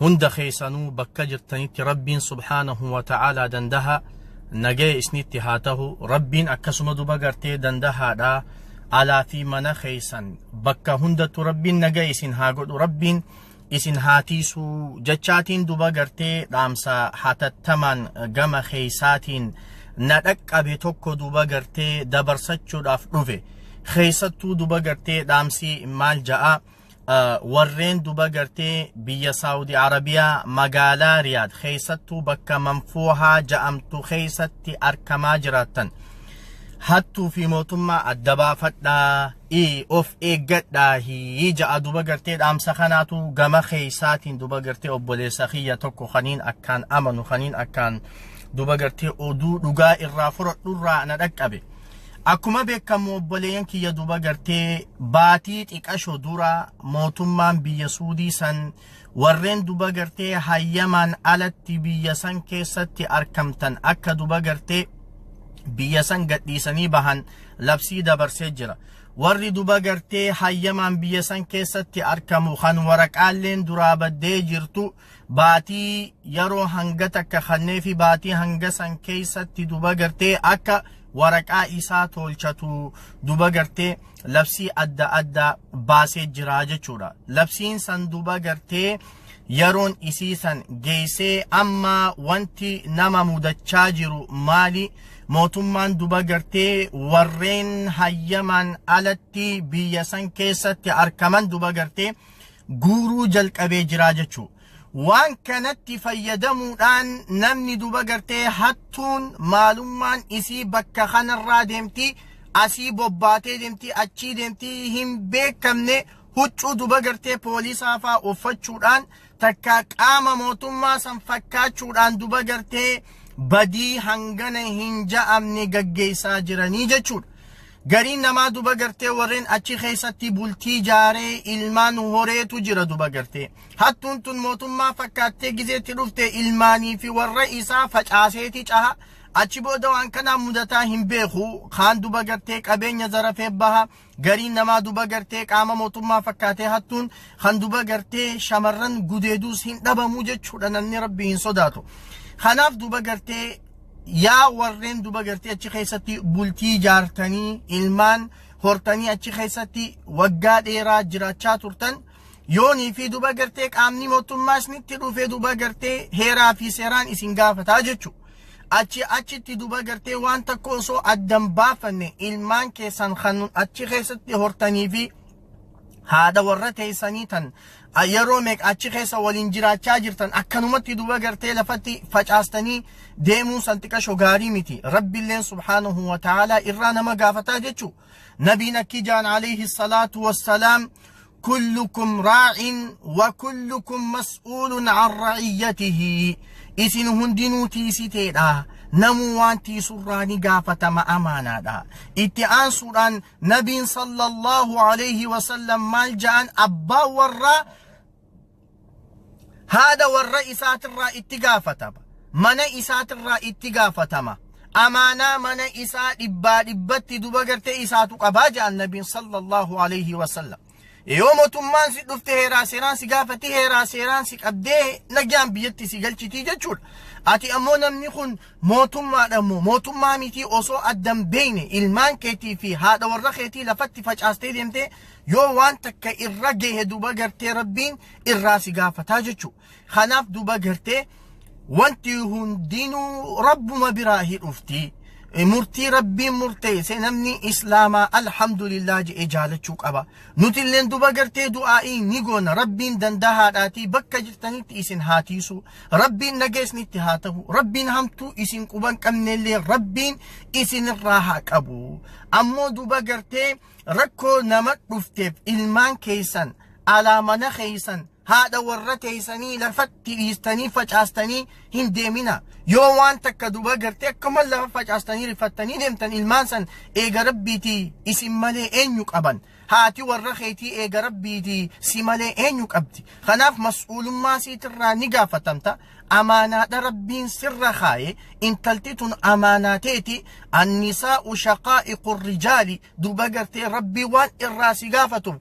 Hunda keessanuu bakka jirtanitti Rabbiin subhaanahu wa ta'aalaa dandaha nagaya isnitti haa tahu Rabbiin akkasuma duba gartee dandahaadha alaa fi mana keessan bakka hundattu Rabbiin nagaya isin haa godhu Rabbiin isin haa tiisuu jechaatiin duba gartee dhaamsa hatattamaan gama keessaatiin na dhaqqabe tokko duba gartee dabarsachuudhaaf dhufe keessattuu duba gartee dhaamsi maal ja'a warreen duba gartee biyya saawudi arabiyaa magaalaa riyaad keessattuu bakka manfuuhaa ja'amtu keessatti arkamaa jiraattan hattuu fi mootummaa adda baafadhaa ii of eeggadhaa hii ja'a duba gartee dhaamsa kanaatu gama keessaatiin duba gartee obboleessa kiyya tokko kaniin akkaan amanu kaniin akkaan duba gartee oduu dhugaa irraa fudhadhurraa na dhaqqabe. Akkuma beekamu obboleeyyan kiyya duuba gartee baatii xiqasho dura mootummaan biyya Suudii san warreen duuba gartee hayyamaan alatti biyya san keessatti arkamtan akka duuba gartee biyya san gadhiisanii bahan labsii dabarsee jira. Warri duuba gartee hayyamaan biyya san keessatti arkamu kan waraqaalleen duraa baddee jirtu baatii yeroo hanga takka kannee fi baatii hanga san keessatti duba gartee akka waraqaa isaa tolchatu duba gartee labsii adda addaa baasee jira jechuudha. Labsiin san duba gartee yeroon isii san geessee amma wanti nama mudachaa jiru maali? Mootummaan duba gartee warreen hayyamaan alatti biyya san keessatti argaman duba gartee guuruu jalqabee jiraa jechuu waan kanatti fayyadamuudhaan namni duba gartee hattuun maalummaan isii bakka kanarraa deemti asii bobbaatee deemti achii deemti hin beekamne huccuu duba gartee poolisaa faa uffachuudhaan takka qaama mootummaa san fakkaachuudhaan duba gartee badii hangana hin ja'amne gaggeessaa jiranii jechuudha. Gariin namaa duba gartee warreen achi keessatti bultii jaaree ilmaan horeetu jira duba gartee. Hattuun tun mootummaa fakkaattee gizeetti dhufte ilmaanii fi warra isaa facaaseeti caha. Achi booda waan kanaa mudataa hin beeku. Kaan duba gartee qabeenya zarafee baha. Gariin namaa duba gartee qaama mootummaa fakkaatee hattuun kan duba gartee shamarran gudeeduus hin dhabamu jechuudha namni rabbi hin sodaatu. Kanaaf duba gartee yaa warreen duba gartee achi keessatti bultii jaartanii ilmaan hortanii achi keessatti waggaa dheeraa jiraachaa turtan yoonii fi duba gartee qaamni mootummaa isinitti dhufee duba gartee heeraa fi seeraan isin gaafataa jechu achi achitti duba gartee waan takka osoo addan baafanne ilmaan keessan kan achi keessatti hortanii fi haadha warra teessanii tan yeroo meeqa achi keessa waliin jiraachaa jirtan akkanumatti duba gartee lafatti facaastanii deemuun san xiqasho gaarii miti rabbiilleen subhaanahu wa ta'aalaa irraa nama gaafataa jechuu nabiin akki jaan alayhi salaatu wassalaam kullukum raa'in wa kullukum mas'uulun an ra'iyyatihi isin hundinuu tiisiteedha namuu waan tiisurraa ni gaafatama amaanaadha itti aansuudhaan Nabiin sallallahu alayhi wa sallam maal ja'an abbaan warraa haadha warra isaatirraa itti gaafatama. Mana isaatirraa itti gaafatama. Amaanaa mana isaa dhibbaa dhibbatti duba gartee isaatu qabaa ja'an nabiin sallallahu alayhi wa sallam. Yoo mootummaan si dhufte heeraa seeraan si gaafatti heeraa seeraan si qabdee nagaan biyyatti si galchitii jechuudha. Ati ammoo namni kun mootummaadha ammoo mootummaa mitii osoo addan beeyne ilmaan keetii fi haadha warra keetii lafatti facaastee deemtee yoo waan takka irra gahe duba gartee rabbiin irraa si gaafataa jechuudha. Kanaaf duuba gartee wanti hundinuu rabbuma biraahi dhufti. Murtii rabbiin murteesse namni islaamaa alhamdulillah je'ee jaalachuu qaba. Nutilleen duuba gartee du'aa'ii ni goona rabbiin dandahaadhaatii bakka jirtanitti isin haa tiisu. Rabbiin nageesnitti haa ta'u. Rabbiin hamtuu isin quban qabnellee rabbiin isinirraa haa qabu. Ammoo duuba gartee rakkoo nama dhufteef ilmaan keessan alaa mana keessan haadha warra teeysanii lafatti dhiistanii facaastanii hin deemina yoo waan takka duba gartee akkuma lafa facaastanii rifattanii deemtan ilmaan san eega rabbiitii isin malee eenyu qaban haati warra keetii eega rabbiitii si malee eenyu qabdi kanaaf mas'uulummaa siitirraa ni gaafatamta amaanaadha rabbiin sirra kaaye intalti tun amaanaa teeti annisaa'u shaqaa'iqu rijaali duba gartee rabbii waan irraa si gaafatuuf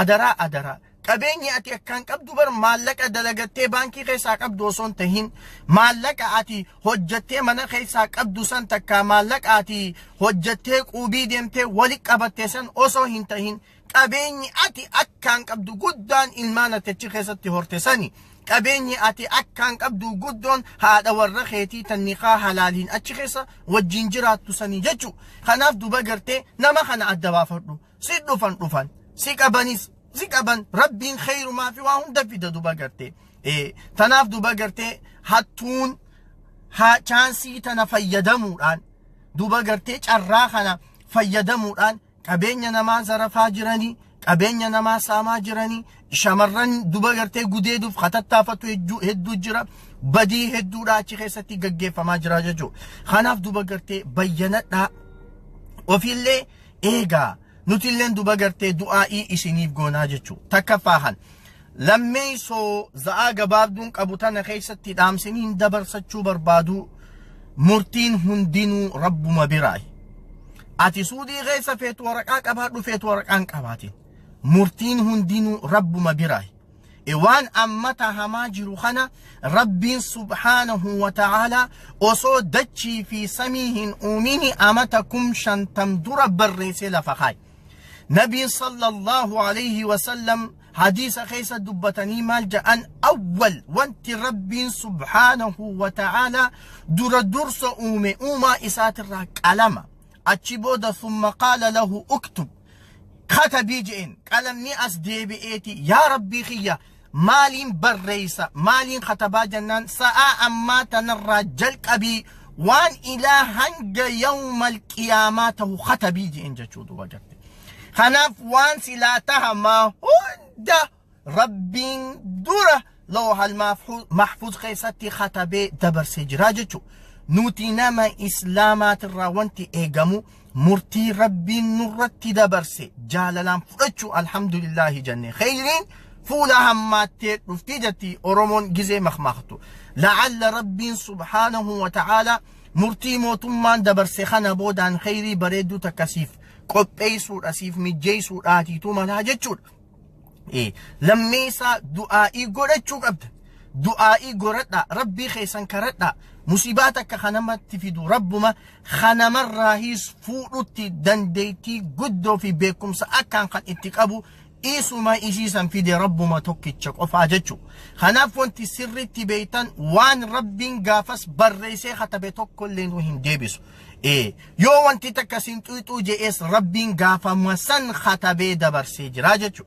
adaraa adaraa Qabeenyi ati akkaan qabdu bar maallaqa dalagattee baankii keessaa qabdu osoo hin tahin maallaqa ati hojjattee mana keessaa qabdu san takka maallaqa ati hojjattee quubii deemtee wali qabatte san osoo hin tahin qabeenyi ati akkaan qabdu guddaan ilmaan ati achi keessatti horte sani. Qabeenyi ati akkaan qabdu guddoon haadha warra keetii tannikaa halaaliin achi keessa wajjin jiraattu sanii jechuudha. Kanaaf duba gartee nama kana adda baafadhu. si dhufan dhufan si qabanis si qaban rabbiin kheyrumaa fi waa hunda fida duba gartee Eh, tanaaf duba gartee hattuun haa chaansii tana fayyadamuudhaan duba gartee carraa kana fayyadamuudhaan qabeenya namaa zarafaa jiranii qabeenya namaa saamaa jiranii shamarran duba gartee gudeeduuf hatattaafatu hedduu- hedduu jira badii hedduudha achi keessatti gaggeeffamaa jira jechuudha kanaaf duba gartee bayyanadhaa ofiillee eegaa nutilleen duba gartee du'aa'ii isiniif goonaa jechuu takkaffaa kan lammeessoo za'aa gabaabduun qabu tana keessatti dhaamsiniin dabarsachuu barbaaduu murtiin hundinuu rabbuma biraayi ati suudii keessa feetu waraqaa qabaadhu feetu waraqaan qabaatiin murtiin hundinuu rabbuma biraayi Waan amma tahamaa jiru kana Rabbiin subhaanahu wa ta'aala osoo dachii fi samii hin uumini amata kum shantam dura barreessee lafa kaaye. Nabiin sallallahu alayhi wa sallam hadiisa keessa dubbatanii maal ja'an awwal wanti Rabbiin subhaanahu wa ta'aala dura dursa uume uumaa isaatirraa qalama. Achi booda thumma qaala lahu uktub katabii je'een qalamni as deebi'eeti yaa rabbii kiyya maaliin barreeysa maaliin katabaa jennaan sa'aa ammaa tanarraa jalqabii waan ilaa hanga yawmal qiyaamaa tahu katabii je'een jechuu duba garte kanaaf waan silaa tahamaa hunda rabbiin dura loohal mahfuz keessatti katabee dabarsee jira jechu nuti nama islaamaatirraa wanti eegamu murtii rabbiin nurratti dabarse jaalalaan fudhachuu alhamdulillaahi jenne kheyriin fuula hammaattee dhuftii jetti oromoon gizee makmaaktu la'alla rabbiin subhaanahu wa ta'aalaa murtii mootummaan dabarse kana boodaan kheyrii bareedduu takkasiif qopheessuudha siif mijjeessuudhaatiitu malaa jechuudha lammeessaa du'aa'ii godhachuu qabda. Du'aa'ii goradhaa rabbii keessan karadhaa musibaa takka kanamatti fidu rabbuma kanamarraahiis fuudhutti dandeettii guddoo fi beekumsa akkaan kan itti qabu isuma isiisan fide rabbuma tokkicha qofaa jechuu. Kanaaf wanti sirriitti beektan waan rabbiin gaafas barreessee katabe tokkollee nu hin deebisu. Ee, yoo wanti takka siin xuyxuu je'ees Rabbiin gaafama san katabee dabarsee jira jechu.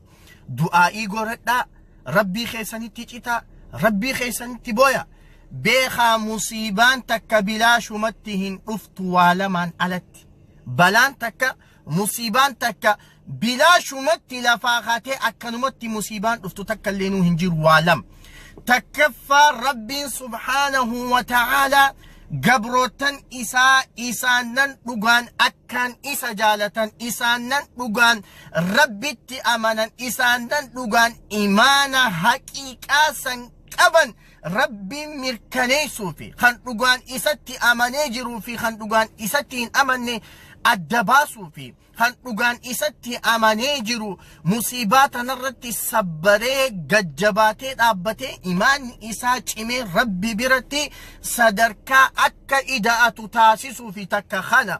Du'aa'ii goradhaa, Rabbii keessanitti citaa, Rabbii keessanitti boya. Beekaa musiibaan takka bilaashumatti hin dhuftu waa lamaan alatti. Balaan takka Musiibaan takka bilaashumatti lafaa kaatee akkanumatti musiibaan dhuftu takka illeenuu hin jiru waa lama. Takkaffaa Rabbiin subhaanahu wa ta'aalaa gabrootan isaa isaannan dhugaan akkaan isa jaalatan isaannan dhugaan Rabbitti amanan isaannan dhugaan imaana haqiiqaa san qaban Rabbiin mirkaneessuu fi kan dhugaan isatti amanee jiruu fi kan dhugaan isatti hin amanne adda baasuu fi kan dhugaan isatti amanee jiru musiibaa tanarratti sabbaree gajjabaatee dhaabbatee imaanni isaa cimee rabbi biratti sadarkaa akka ida'atu taasisuu fi takka kana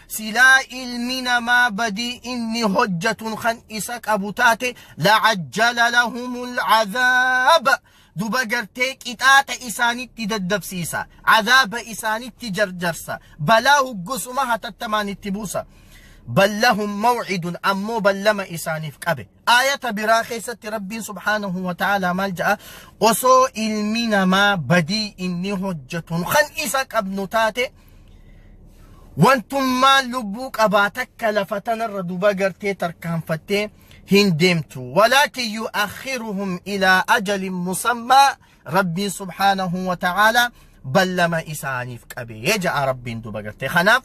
silaa ilmi namaa badii inni hojjatun kan isa qabu taate lacajjala lahumu lcazaaba duba gartee qixaaxa isaanitti daddabsiisa cazaaba isaanitti jarjarsa balaa huggusuma hatattamaan itti buusa bal lahum mawcidun ammoo ballama isaaniif qabe Aayata biraa keessatti Rabbiin subhaanahu wa ta'aalaa maal ja'a? Osoo ilmi namaa badii inni hojjetun kan isa qabnu taate wantummaan lubbuu qabaa takka lafa tanarra duba gartee tarkaanfattee hin deemtu. Walaakin yu'akhiruhum ilaa ajalin musammaa Rabbiin subhaanahu wa ta'aalaa ballama isaaniif qabee ja'a Rabbiin duba gartee. Kanaaf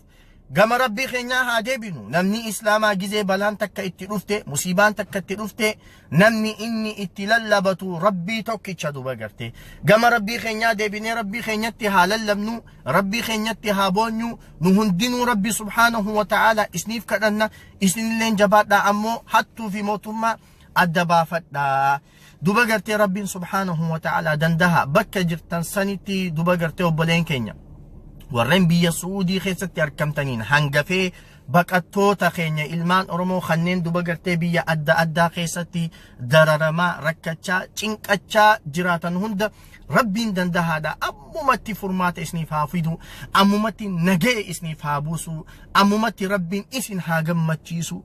Gama Rabbii keenyaa haa deebinu. Namni Islaamaa gizee balaan takka itti dhufte, musiibaan takka itti dhufte, namni inni itti lallabatu Rabbii tokkicha duba garte. Gama Rabbii keenyaa deebinee Rabbii keenyatti haa lallabnu, Rabbii keenyatti haa boonyu, nu hundinuu Rabbi subhaanahu wa ta'aala isniif kadhanna, isinilleen jabaadhaa ammoo hattuu fi mootummaa adda baafadhaa. Duba gartee Rabbiin subhaanahu wa ta'ala dandaha bakka jirtan sanitti duba gartee obboleen keenya warreen biyya Su'uudii keessatti argamtaniin hangafee baqattoota keenya ilmaan Oromoo kanneen duba gartee biyya adda addaa keessatti dararamaa rakkachaa cinqachaa jiraatan hunda Rabbiin dandahaadha ammumatti furmaata isiniif haa fidu ammumatti nagee isiniif haa buusu ammumatti Rabbiin isin haa gammachiisu